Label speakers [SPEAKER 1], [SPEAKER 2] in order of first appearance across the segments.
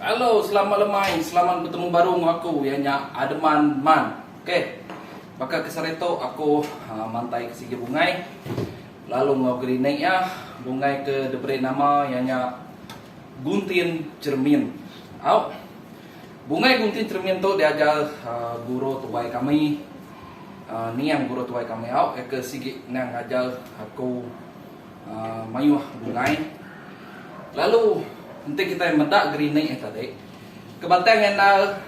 [SPEAKER 1] Hello selamat lemai selamat betemu baru enggau aku iya nya Ademan man ok baka ke sehari tu aku mantai ke sigi bungai lalu enggau gerinik iya bungai ke diberi nama iya nya guntin cermin au bungai guntin cermin tu diajar guru tuai kami niang guru tuai kami au iya ke sigi niang ngajar aku. Mayuh bungai. Lalu enti kitai meda gerinik nya tadi, ke batang enda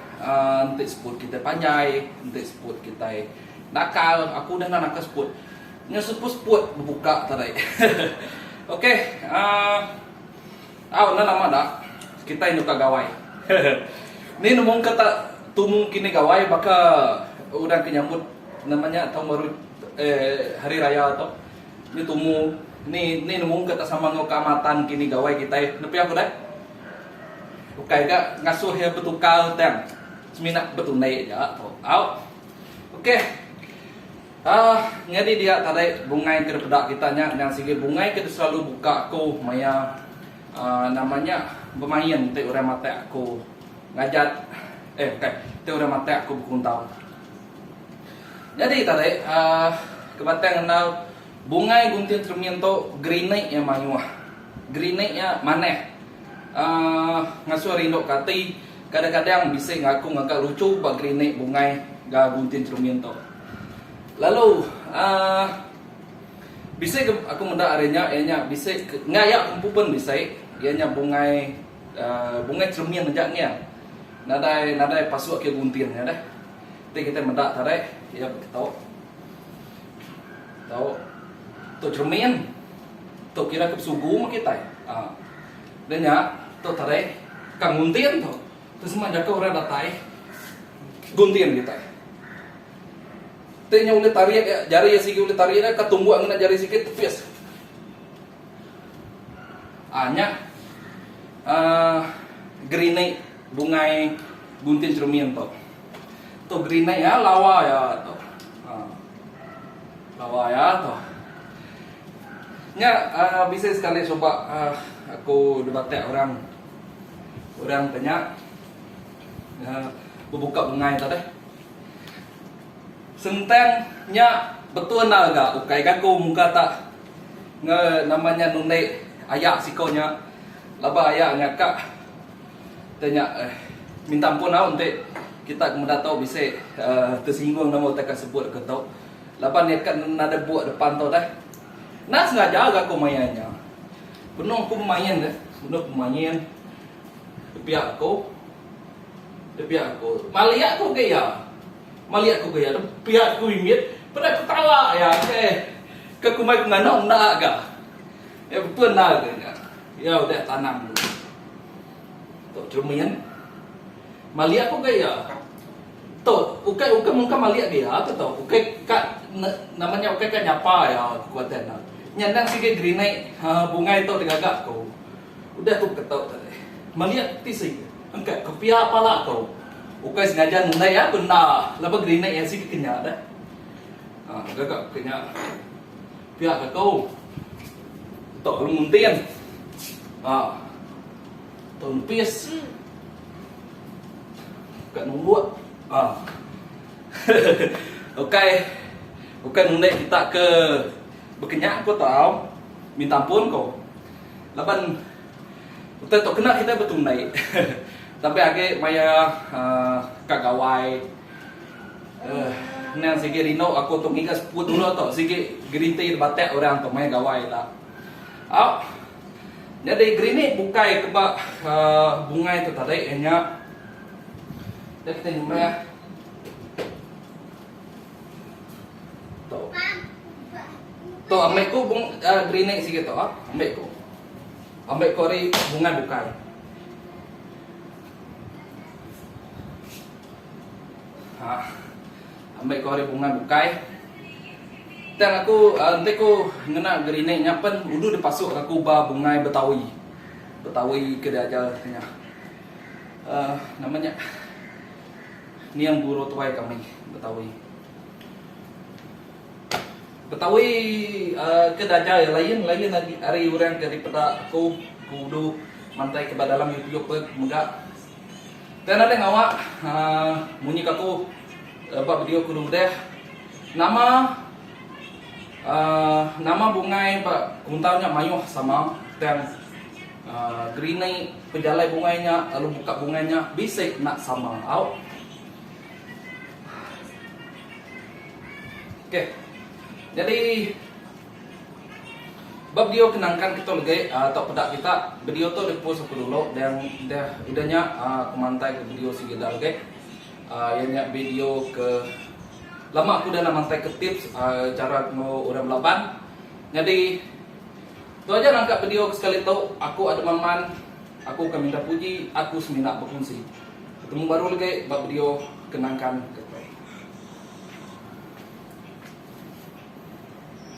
[SPEAKER 1] enti seput kitai panjai, enti seput kitai nakal, aku udah enda naka seput. Nya seput-seput bebuka tadi. Okey, au enda nama da kitai nuka gawai. Ni nemu ke tak tumu kini gawai baka orang ke nyambut nama nya taun baru, eh hari raya tu. Ni tumu ni ni nemu ke tak sama enggau keamatan kini gawai kitai nepi aku deh. Ukai ga ngasuh iya betukar tang semina betunai aja tu tau. Ok uhh nyadi dia tadi bungai ke dipeda kita nya endang sigi bungai ke diselalu buka aku maya uhh nama nya bemain ti orang matai aku ngajat eh bukai ti orang matai aku bekuntau. Nyadi tadi, ke batang ngenal bungai gunting keremin tu gerinik iya mayuh. Gerinik iya manah. Ngasuh rindu ke ati, kadang-kadang bisi ngaku ngaga luchu ba gerinik bungai enggau gunting keremin tu. Lalu bisi ke aku meda ari nya iya nya bisi enggau iya ke empu pun bisi iya nya bungai bungai keremin aja ngiang. Nadai nadai pasu agi gunting nya deh. Enti kitai meda tarik iya beketo. Tau tu cermin. Tu kira ke besugu meh kitai. Ah. Dah nya tu tarik ka nguntin tu. Tu semua jaku orang datai guntin kitai. Enti nya ulih tarik iya jari iya sigi ulih tarik iya ka tumbuk ngena jari sigi tepis. Ah nya ah gerinik. Bungai bunting cermin tu. Tu grenade ya lawa ya tu. Ha. Lawa ya tu. Nya uh, bisa sekali cuba uh, aku debatak orang orang tanya uh, berbuka bungai tu deh. Sentang nya betul na ga ukai gaku muka tak nge namanya nundai ayak siko nya laba ayak nya kak Te nya eh minta ampun au enti kita ke meda tu bisi tersinggung nama utai ka sebut aku tu laban iya ka nadai buk depan tu deh. Enda sengaja ga aku main nya. Benung aku bemain deh, benung aku bemain tepiak aku tepiak aku malik aku ga iya. Malik aku ga iya tepiak aku mimit peda aku tala iya eh ke kumbai penganak enda ga. Iya betul enda ga nya. Iya udah tanam dulu. Tok terima iya nih. Maliak pun gaya. Tok, ukai ukai mungka maliak dia tu tok. Ukai ka nama nya ukai ka nyapa iya ku kuatan nya. Nya endang sigi gerinai ha bungai tok digaga ko. Udah ku ke tok tadi. Maliak ti si engkat ke pia pala ko. Ukai sengaja nundai iya benda laban gerinai iya sigi ke nya dah. Ha gaga ke nya. Pia kaku. Tok kelu muntin. Ha. Tok nipis. Kat numbuk. Ha. Okey. Okey mundai kita ke bekenyak ko tau. Minta ampun ko. Laban Utai tok kena kita betunai. Tapi agi maya uh, kagawai Uhh endang sigi rindu aku tu ngiga sepu dulu tu sigi geriti debatak orang tu maya gawai ila. Au nyadi gerinik bukai ke ba uhh bungai tu tadi iya nya enda kita nyumbah tu tu ambi ku uhh gerinik sigi tu ambi ku ambi ku ari bungai bukai. Ha. Ambil kau hari bunga bukai. Tang aku uh, ente ku ngena gerinik nyapen udu dipasuk aku ba bungai betawi. Betawi ke diajar tengah. Uh, namanya ni yang guru tuai kami betawi. Betawi ke daja iya lain lain agi ari orang ke dipeda aku ku Udu mantai ke ba dalam youtube be mega. Tang nadai ngawa uhh munyi ke aku ba video ku udah nama uhh nama bungai ba kuntau nya mayuh sama tang uhh gerini pejalai bungai nya lalu buka bungai nya bisi enda sama au. Ok jadi ba video ke nangkan kita legi atau peda kita video tu di post aku dulu dan dah ida nya aku mantai ke video sigi dah lagi iya nya video ke lama aku dah mantai ke tips cara temu orang belaban jadi tu aja nangka video ke sekali tu aku Ademan Man aku ke minta puji aku semina bekunsi. Temu baru legi ba video Kenangkan Ketai.